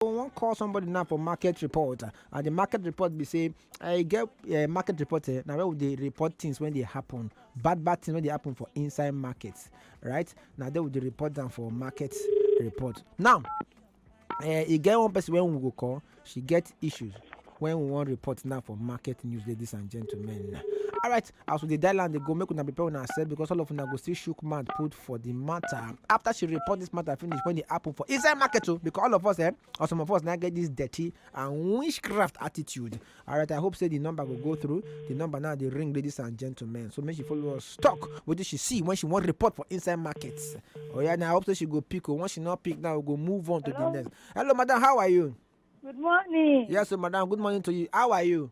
wan call somebody now for market report and the market report be say i get eh, market report eh, na where we dey report things when dey happen bad bad things wey dey happen for inside market right na there we dey report am for market report now eh, e get one person wey we go call she get issues when we wan report now for market news ladies and gentlemen alright as we dey dial am dey go make una prepare una sef because all of una go still shook mouth put for the matter after she report this matter finish when e happen for inside market o because all of us eh or some of us na get this dirty and witchcraft attitude alright i hope say the number go go through the number now dey ring ladies and gentlemen so make she follow us talk wetin she see when she wan report for inside market oya na i hope say she go pick o once she no pick now we go move on to the next hello madam how are you Good morning. yes o madam good morning to you how are you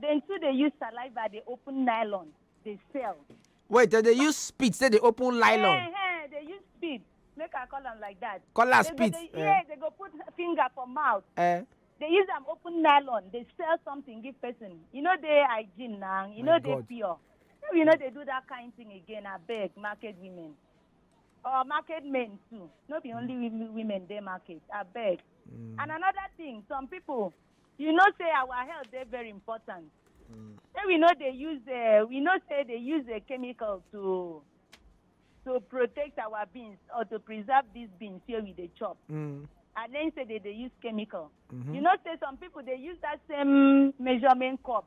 dem too dey use saliva dey open nylon dey sell wait dem dey use spit say dey open nylon Eh, eh, dey use spit make i call am like that call am They go spit dey- eh, yeah they go put finger for mouth eh. they use am open nylon dey sell something give person e no dey hygiene na e My no dey God. pure so we no dey do that kind thing again abeg market women or market men too no be only women women dey market abeg and another thing some people you know say our health dey very important say we no dey use uh, we know say dey use a chemical to to protect our beans or to preserve these beans wey we dey chop Mm. and then say they dey use chemical you know say some people dey use that same measurement cup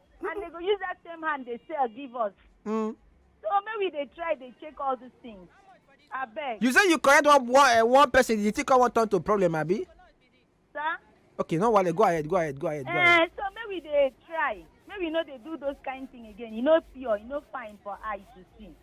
and they go use that same hand they sell give us. Mm. So maybe they try, they check all these things. I beg. You say you correct one one, uh, one person, you think I want turn to problem, Abi? Sir? Okay, no worry, go ahead, go ahead, go ahead. Go ahead. Uh, so maybe they try. Maybe you know they do those kind of thing again. You know pure, you know fine for eyes to see.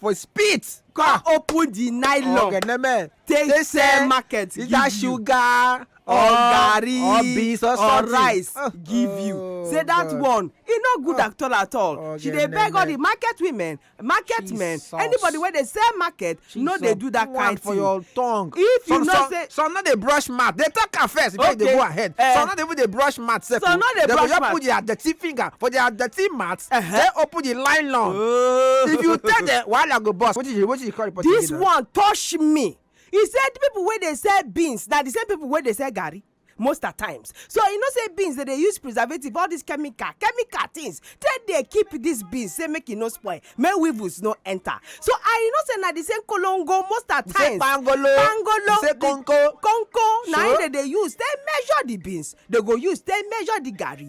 for spit come open the nylon ọ̀gẹ̀dẹ̀ mẹ́ take Take sell sell market give either you sugar or or garri or beans or or something. rice Oh, give you oh, say that God. one e no good at all at all Oh, she dey beg all the goodness. market women market men Jesus. anybody wey dey sell market no dey Jesus. do that One kind for thing your tongue. if you some, know some, say some no dey brush mouth dey talk am first before okay. you dey go ahead uh, some no dey even dey brush mouth sef some no dey brush mouth they go just put their dirty finger for their dirty mouth uh -huh. say open the line long oh. if you tell them wahala go burst wetin you wetin you call report this one touch me he said people wey dey sell beans na the same people wey dey sell garri most at times so you know say beans dey dey use preservative all these chemical chemical things take dey keep these beans say make e no spoil make weevils no enter so and you know say na the same kolongo most at times pangolo pangolo say konko konko na im dey dey use take measure the beans dey go use take measure the garri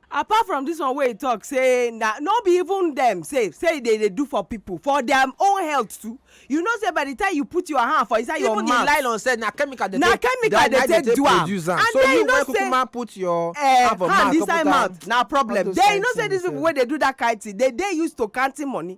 Apart from dis one wey e talk say na no be even dem sef say e dey dey do for people for dia own health too you know say by the time you put your hand for inside your mouth even the nylon sef na chemical dem take na chemical dem take do am and then you know say na put your hand for mouth hand inside mouth na problem then you know say dis people wey dey do that kind thing dey dey used to counting money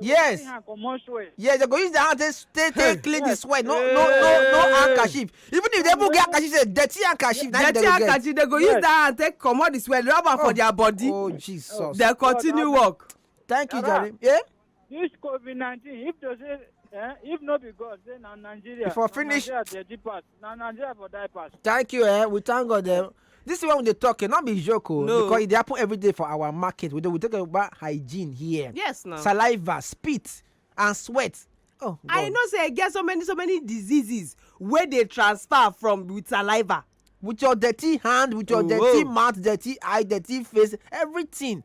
yes yes they go use their hand take take take clean the sweat no no no no handkerchief even if they even get handkerchief say dirty handkerchief na dirty handkerchief they go use that hand take comot the sweat rub am for oh. their body oh jesus they continue work. thank you jerry. Yeah? this covid nineteen if they say eh, if no be god say na nigeria for finish nigeria dey deep pass. na nigeria for die pass. thank you eh we thank god eh this is when we dey talk eh no be joke o oh, no. because e dey happen every day for our market we dey we talk about hygiene here yes na saliva spit and sweat oh god i know say e get so many so many diseases wey dey transfer from with saliva with your dirty hand with your oh, dirty oh. mouth dirty eye dirty face everything